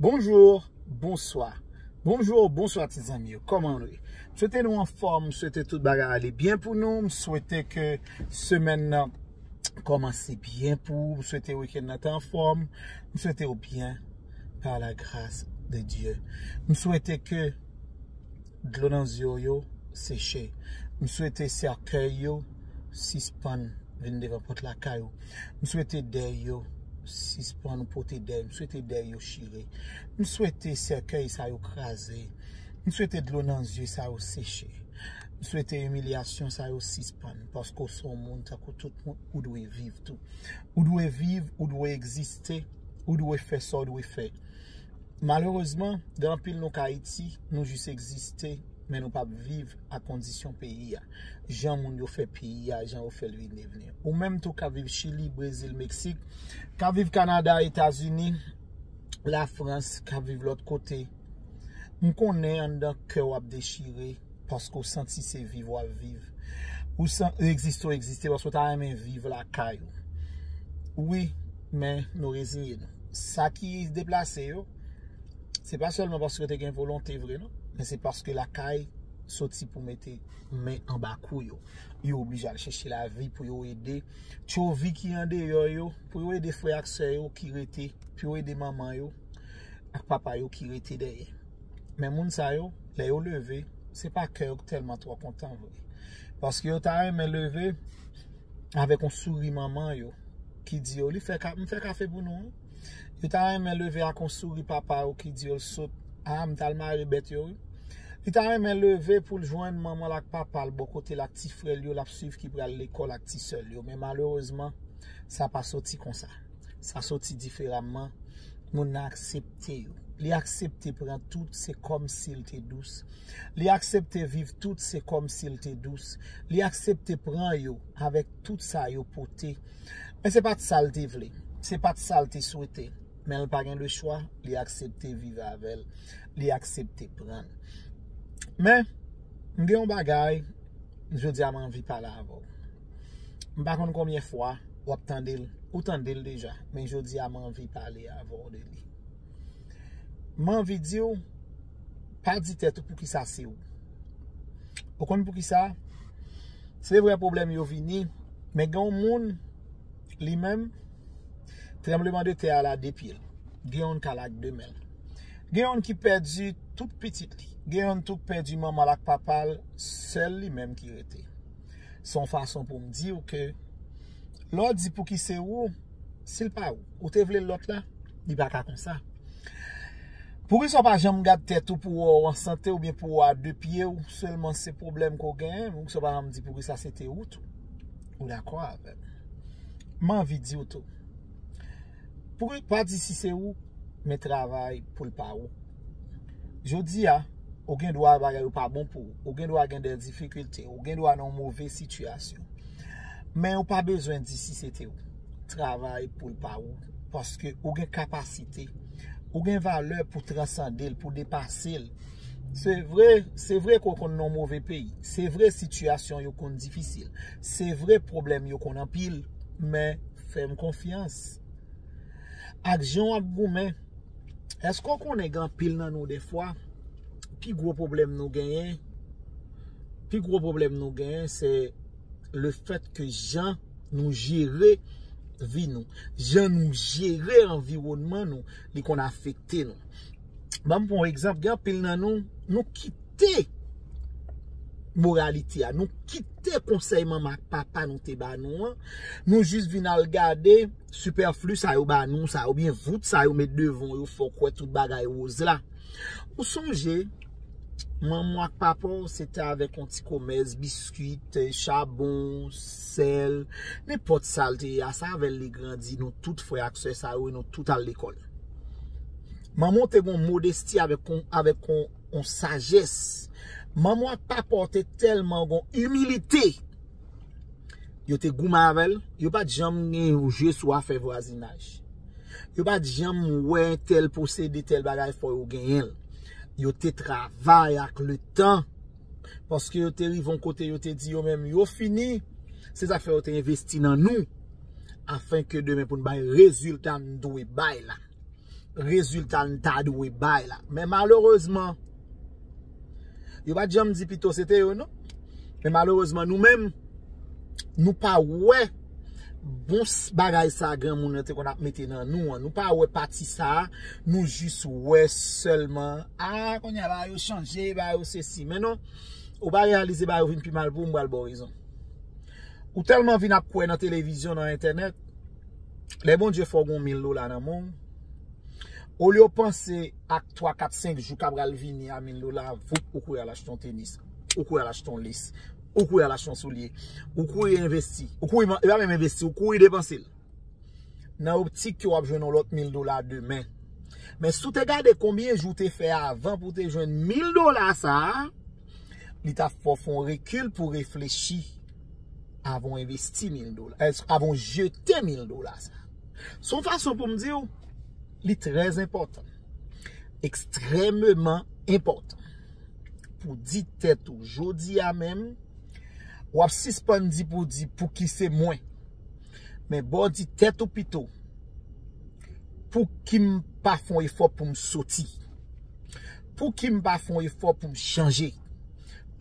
Bonjour, bonswa Bonjour, bonswa ti zanmi yo, kòman nou ye? M swete nou anfòm, m swete tout bagay ale byen pou nou, m swete ke semèn nan kòmanse byen pou ou, m swete wikèn nan te anfòm, m swete ou byen, par la gras de Dieu. M swete ke Dlo nan zyew yo seche. M swete sèkèy yo sispann vin devan pòt lakay ou. M swete dèy yo sispann ou pote dèy. M swete dèy yo chire. M swete sèkèy sa yo kraze. M swete dlo nan zye sa yo seche. M swete imilyasyon sa yo sispann paske ou se yon moun tankou tout moun ou dwe viv tou. Ou dwe viv, ou dwe egziste, ou dwe fè sa ou dwe fè. Malerezman, gen anpil nou k Ayiti, nou jis egziste, men nou pap viv ak kondisyon peyi a, jan moun yo fè peyi a, jan yo fè l vin devni. Ou menm tou k ap viv Chili, Brezil, Meksik, k ap viv Kanada, Etazini, Lafrans, k ap viv lòt kote, m konnen anndan kè w ap dechire. Paske w santi se viv w ap viv. Ou san egziste w egziste paske w ta renmen viv lakay ou. Wi, men nou reziye nou. Sa ki deplase yo, se pa sèlman paske yo te gen volonte vre non. Men se paske lakay soti pou mete men anba kou yo. Yo oblije al chèche lavi pou yo ede tchovi ki andeyò yo, pou yo ede frè ak sè yo ki rete, pou yo ede manman yo ak papa yo ki rete dèyè. Men moun sa yo, lè yo leve, se pa kè yo ki tèlman twò kontan vre. Paske yo ta renmen leve avèk yon souri manman yo ki di yo, m fè kafe pou nou. Yo ta renmen leve ak yon souri papa yo ki di yo, l sot, a, m t al mare bèt yo. Li ta renmen leve pou l jwenn manman l ak papa l bò kote l ak ti frè l yo l ap suiv ki pral lekòl ak ti sè l yo. Men malerezman, sa pa soti konsa. Sa soti diferaman, moun nan aksepte yo. Li aksepte pran tout, se kòm si l te dous. Li aksepte viv tout, se kòm si l te dous. Li aksepte pran yo avèk tout sa yo pote. Men se pa t sa l te vle. Se pa t sa l te swete. Men l pa gen lechwa, li aksepte viv avè l. Li aksepte pran l. Men, m gen yon bagay, jodi a m anvi pale avè w. M pa konn konbyen fwa w ap tande l, ou tande l deja, men jodi a m anvi pale avè w de li. M anvi di w, pa di tèt ou poukisa se ou. Ou konn poukisa? Se vre pwoblèm yo vini, men gen yon moun li menm, tranbleman de tè a la de pye l. Gen yon k al ak de men l. Gen yon ki pèdi tout pitit li. Gen yon tou k pèdi manman l ak papa l, sèl li menm ki rete. Se yon fason pou m di w ke lè w di pouki se ou, si l pa ou, ou te vle lòt la? Li pa ka konsa. Poukisa w pa janm gad tèt ou pou wè w an sante oubyen pou wè w a de pye w sèlman se pwoblèm ke w genyen? Poukisa w pa janm di poukisa se te ou tou? Ou dakò avè m? M anvi di w tou. Poul pa di si se ou men travay poul pa ou. Jodi a, ou gen dwa bagay yo pa bon pou ou. Ou gen dwa gen dè difikilte. Ou gen dwa nan yon move sitiyasyon. Men ou pa bezwen di si se te ou. Travay poul pa ou. Paske ou gen kapasite. Ou gen valè pou transande l, pou depase l. Se vre, se vre ke ou konn nan yon move peyi. Se vre sitiyasyon yo konn difisil. Se vre pwoblèm yo konn anpil. Men. Fèm konfyans. Ak jan wap goumen. Eske w konnen gen anpil nan nou defwa pi gwo pwoblèm nou genyen pi gwo pwoblèm nou genyen se le fèt ke jan nou jere vi nou, jan nou jere anviwònman nou li konn afekte nou. Ban m pran yon egzanp, gen anpil nan nou, nou kite moralite a, nou kite konsèy manman ak papa nou te ba nou an, nou jis vin al gade sipèfli sa yo ba nou sa, ou byen vout sa yo met devan ou yo fè w kwè tout bagay woz la. Ou sonje, manman w ak papa w se te avèk yon ti komès biskwit, chabon, sèl, nenpòt sa l te ye a, se avè l li grandi, nou tout frè ak sè sa yo e nou tout al lekòl. Manman w te gen yon modesti avèk yon sajès. Manman w ak papa w te tèlman gen yon imilite. Yo te goumen avè l. Yo pa t janm gen yon je sou afè vwazinaj. Yo pa t janm wè tèl posede tèl bagay fò yo genyen l. Yo te travay ak letan. paske yo te rive yon kote yo te di yo menm yo fini, se sa k fè yo te envesti nan nou afin ke demen pou n bay rezilta n dwe bay la, rezilta n ta dwe bay la. Men malerezman, yo pa t janm di pito se te yo non, men malerezman nou menm nou pa wè. Bon bagay sa granmoun nan te konn ap mete nan nou an nou pa wè pati sa nou jis wè sèlman a kounye a bagay yo chanje bagay yo sesi men non ou pa reyalize bagay yo vin pi mal pou ou m pral baw rezon ou tèlman vin ap kwè nan televizyon nan entènèt lè Bondye fè w gon mil dola nan men w olye w panse ak 3 4 5 jou ka pral vini a mil dola voup ou kouri al achte yon tenis ou kouri al achte yon lis Ou kouri al achte yon soulye. Ou kouri envesti. Ou kouri, e pa menm envesti, ou kouri depanse l. Nan optik ke w ap jwenn yon lòt mil dola demen. Men si w te gade konbyen jou w te fè avan pou w te jwenn mil dola sa a, li ta fè w fè yon rekil pou w reflechi avan w envesti mil dola, avan w jete mil dola sa a. Se yon fason pou m di w, li trèzenpòtan. Ekstrememan enpòtan. Pou di tèt ou jodi a menm wap sispann di pou di pouki se mwen men baw di tèt ou pito pouki m pa fè yon efò poum soti pouki m pa fè yon efò poum chanje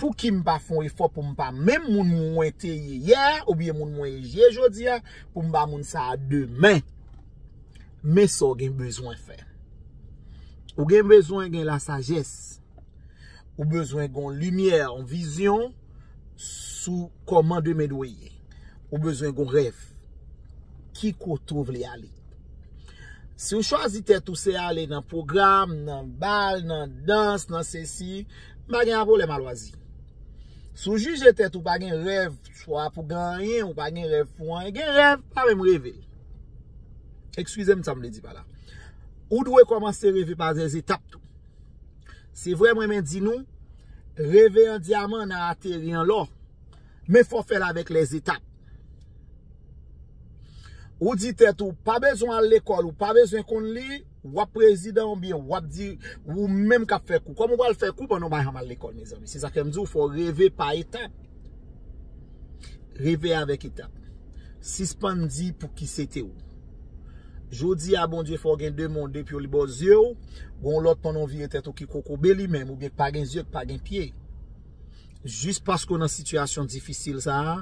pouki m pa fè yon efò poum pa menm moun mwen te ye yè a oubyen moun mwen ye jodi a poum pa moun sa demen. Men sa w gen bezwen fè. Ou gen bezwen gen la sajès. Ou bezwen gen yon limyè, yon vizyon sou kòman demen dwe ye. Ou bezwen gen yon rèv. Ki kote ou vle ale? Si ou chwazi tèt ou se ale nan pwogram, nan bal, nan dans, nan sesi, m pa gen apwoblèm a lwazi. Si ou jije tèt ou pa gen rèv, swa pou gen anyen, ou pa gen rèv pou anyen, gen rèv, pa menm reve l. Ekskize m sa m vle di pa la. Ou dwe kòmanse reve pa zè zetap tou. Se vre m renmen di nou, reve an dyaman nan ateri an lò. Men fò fè l avèk lè zetap. Ou di tèt ou, pa bezwen al lekòl, ou pa bezwen konn li. Wap prezidan ou byen wap di ou menm kap fè kou. Kòm ou pral fè kou pandan ou bay ham al lekòl mezanmi. Se sa fèm di ou fò reve pa etap. Reve avèk etap. Sispann di pou ki se te ou. Jodi a Bondye fè ou gen 2 mon 2 pye ou li baw zye ou. Gon lòt pandan ou vire tèt ou ki kokobe li menm ou byen k pa gen zye k pa gen pye. Jis paske w nan sitiyasyon difisil sa a,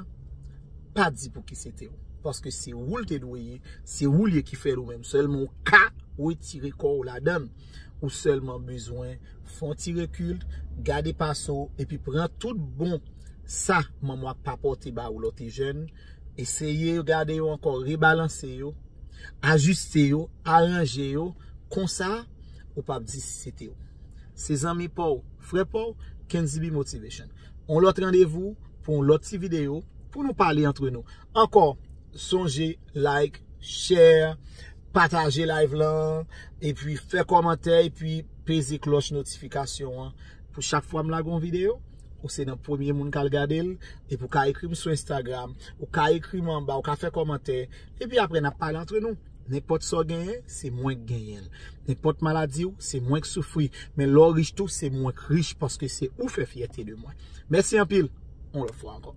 pa di pouki se te ou. Paske se ou l te dwe ye, se ou l ye ki fè l ou menm. Sèlman ou ka wetire kò ou ladan l. Ou sèlman bezwen fè yon ti rekil, gade pase w, epi pran tout bon sa manman w ak papa w te ba ou lè w te jèn, eseye gade yo ankò, rebalanse yo, ajiste yo, aranje yo, konsa ou p ap di si se te ou. Se zanmi pa w, frè pa w, Kenzibe Motivation. Yon lòt randevou pou yon lòt ti videyo pou nou pale antre nou. Ankò, sonje like, share, pataje live lan, epi fè kòmantè, epi peze klòch notifikasyon an pou chak fwa m lage yon videyo, ou se nan premye moun k al gade l. Epi ou ka ekri m sou Instagram, ou ka ekri m anba, ou ka fè kòmantè, epi apre n ap pale antre nou. Nenpòt sa w genyen, se mwen k genyen l. Nenpòt maladi w, se mwen k soufri. Men lè w rich tou, se mwen k rich paske se ou fè fyète de mwen. Mèsi anpil, yon lòt fwa ankò.